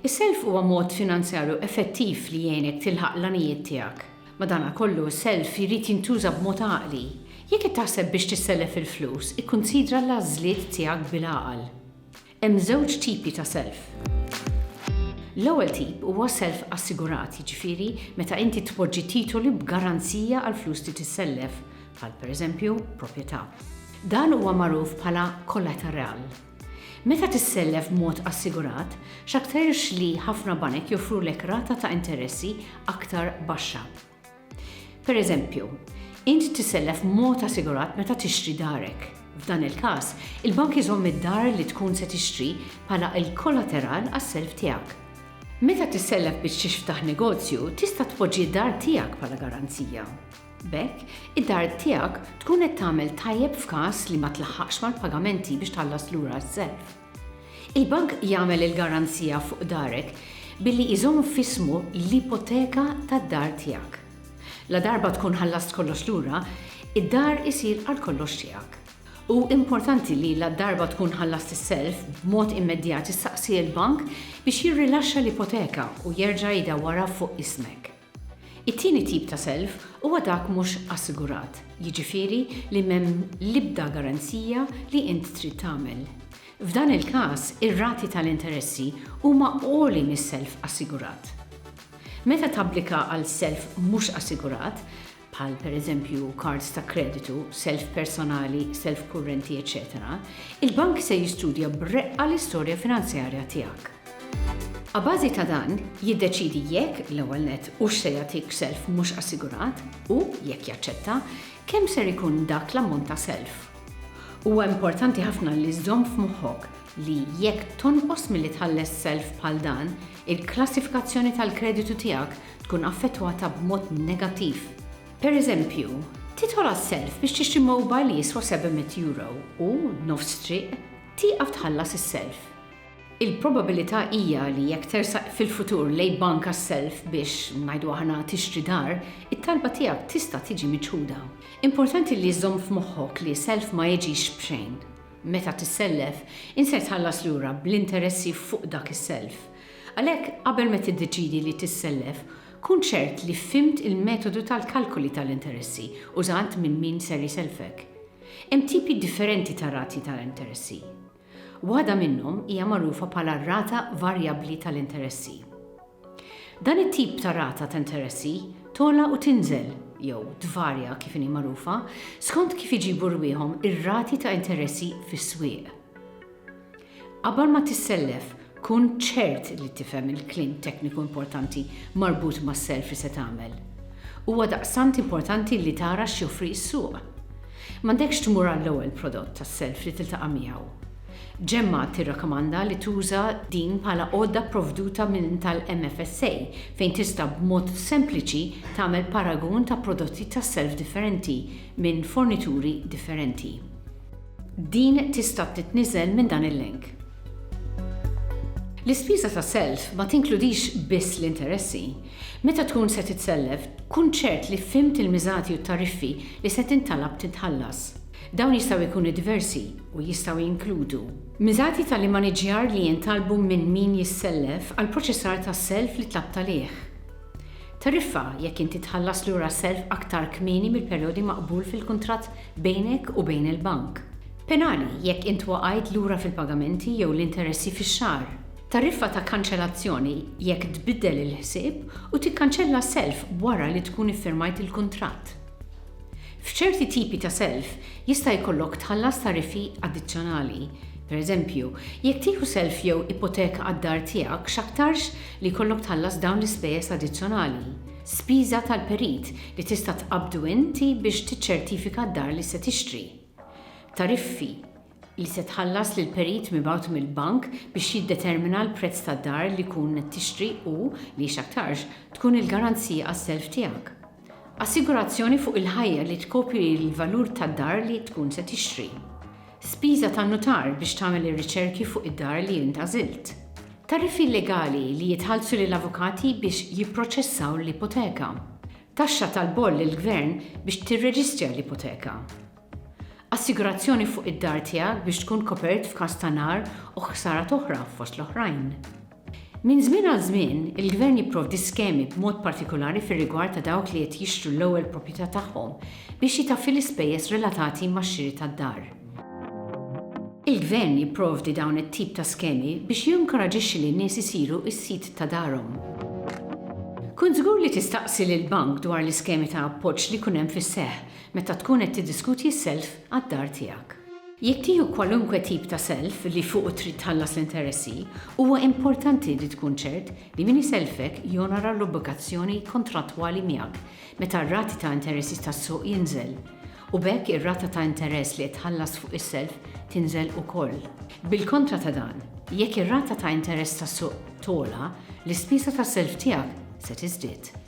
Is-self huwa mod finanzjarju effettiv li jgħinek tilħaq l-għanijiet tiegħek. Madankollu, is-self jrid jintuża b'mod għaqli. Jekk qed taħseb biex tissellef il-flus, ikkunsidra l-għażliet tiegħek bil-għaqal. Hemm żewġ tipi ta' self. L-ewwel tip huwa self assigurat, jiġifieri meta inti tpoġġi titoli b'garanzija għall-flus li tissellef, bħal pereżempju proprjetà. Dan huwa magħruf bħala kollateral. Meta tissellef b'mod assigurat, x'aktarx li ħafna banek joffrulek rata ta' interessi aktar baxxa. Pereżempju, int tissellef b'mod assigurat meta tixtri darek. F'dan il-każ, il-bank iżomm id-dar li tkun se tixtri bħala l-kollateral għas-self tiegħek. Meta tissellef biex tixftaħ negozju, tista' tpoġġi d-dar tiegħek bħala garanzija. B'hekk, id-dar tiegħek tkun qed tagħmel tajjeb f'każ li ma tlaħħaqx mal-pagamenti biex tħallas lura s-self. Il-bank jagħmel il-garanzija fuq darek billi jżomm f'ismu l-ipoteka tad-dar tiegħek. Ladarba tkun ħallast kollox lura, id-dar isir għalkollox tiegħek. Hu importanti li ladarba tkun ħallast is-self, b'mod immedjat issaqsi l-bank biex jirrilaxxa l-ipoteka u jerġa' jdawwarha fuq ismek. It-tieni tip ta' self huwa dak mhux assigurat, jiġifieri li m'hemm l-ibda garanzija li int trid tagħmel. F'dan il-każ, ir-rati tal-interessi huma għoli mis-self assigurat. Meta tapplika għal self mhux assigurat, bħal pereżempju kards ta' kreditu, self personali, self kurrenti, eċċetera, il-bank se jistudja b'reqqa l-istorja finanzjarja tiegħek. Abbażi ta' dan, jiddeċiedi jekk, l-ewwel nett, hux se jagħtik self mhux assigurat u, jekk jaċċetta, kemm ser ikun dak l-ammont ta' self. Huwa importanti ħafna li żżomm f'moħħok li jekk tonqos milli tħalles self bħal dan, il-klassifikazzjoni tal-kreditu tiegħek tkun affettwata b'mod negattiv. Pereżempju, tidħol għas-self biex tixtri mobile li jiswa 700 euro u, nofs triq, tieqaf tħallas is-self. Il-probabilità hija li jekk tersaq fil-futur lejn bank għas-self biex, ngħidu aħna, tixtri dar, it-talba tiegħek tista' tiġi miċħuda. Importanti li żżomm f'moħħok li self ma jiġix b'xejn. Meta tissellef, inser tħallas lura bl-interessi fuq dak is-self. Għalhekk, qabel ma tiddeċiedi li tissellef, kun ċert li fimt il-metodu tal-kalkoli tal-interessi użat minn min ser jsellfek. Hemm tipi differenti ta' rati tal-interessi. Waħda minnhom hija magħrufa bħala r-rata varjabbli tal-interessi. Dan it-tip ta' rata ta' interessi togħla u tinżel, jew tvarja kif inhi magħrufa, skont kif iġibu rwieħhom ir-rati ta' interessi fis-swieq. Qabel ma tissellef, kun ċert li tifhem il-kliem tekniku importanti marbut mas-self li se tagħmel. Huwa daqstant importanti li tara x'joffri s-suq. M'għandekx tmur għall-ewwel prodott tas-self li tiltaqa' miegħu. Gemma tirrakkomanda li tuża din bħala għodda pprovduta minn tal-MFSA fejn tista' b'mod sempliċi tagħmel paragun ta' prodotti tas-self differenti minn fornituri differenti. Din tista' titniżel minn dan il-link. L-ispiża ta' self ma tinkludix biss l-interessi. Meta tkun se titsellef, kun ċert li fhimt il-miżati u t-tariffi li se tintalab titħallas. Dawn jistgħu jkunu diversi u jistgħu jinkludu. Miżati tal-immaniġġjar li jintalbu minn min jissellef għall-proċessar tas-self li tlabt għalih. Tariffa jekk inti tħallas lura s-self aktar kmieni mill-perjodi maqbul fil-kuntratt bejnek u bejn il-bank. Penali jekk int waqajt lura fil-pagamenti jew l-interessi fix-xahar. Tariffa ta' kanċellazzjoni jekk tbiddel il-ħsieb u tikkanċella self wara li tkun iffirmajt il-kuntratt. F'ċerti tipi ta' self jista' jkollok tħallas tariffi addizzjonali. Pereżempju, jekk tieħu self jew ipoteka għad-dar tiegħek x'aktarx li jkollok tħallas dawn l-ispejjeż addizzjonali, spiża tal-perit li tista' tqabbdu inti biex tiċċertifika d-dar li se tixtri, tariffi, li se tħallas lil perit mibgħut mill-bank biex jiddetermina l-prezz tad-dar li tkun qed tixtri u li, x'aktarx, tkun il-garanzija għas-self tiegħek. Assigurazzjoni fuq il-ħajja li tkopri l-valur tad-dar li tkun se tixtri. Spiża tan-nutar biex tagħmel ir-riċerki fuq id-dar li int għażilt. Tariffi legali li jitħallsu lil avukati biex jipproċessaw l-ipoteka. Taxxa tal-boll lill-gvern biex tirreġistra l-ipoteka. Assigurazzjoni fuq id-dar tiegħek biex tkun kopert f'każ ta' nar u ħsarat oħra, fost l-oħrajn. Minn żmien għal żmien, il-Gvern jipprovdi skemi b'mod partikulari fir-rigward ta' dawk li qed jixtru l-ewwel proprjetà tagħhom biex jitaffi l-ispejjeż relatati max-xiri tad-dar. Il-Gvern jipprovdi dawn it-tip ta' skemi biex jinkoraġixxi lin-nies isiru s-sid ta' darhom. Kun żgur li tistaqsi lill-bank dwar l-iskemi ta' appoġġ li jkun hemm fis-seħħ Meta tkun qed tiddiskutji s-self għad-dar tiegħek. Jekk tieħu kwalunkwe tip ta' self li fuqu trid tħallas l-interessi, huwa importanti li tkun ċert li min isellfek jonora l-obbligazzjoni kontrattwali miegħek meta r-rati ta' interessi tas-suq jinżel, u b'hekk ir-rata ta' interess li qed tħallas fuq is-self tinżel ukoll. Bil-kontra ta' dan, jekk ir-rata ta' interess tas-suq togħla, l-ispiża tas-self tiegħek se tiżdied.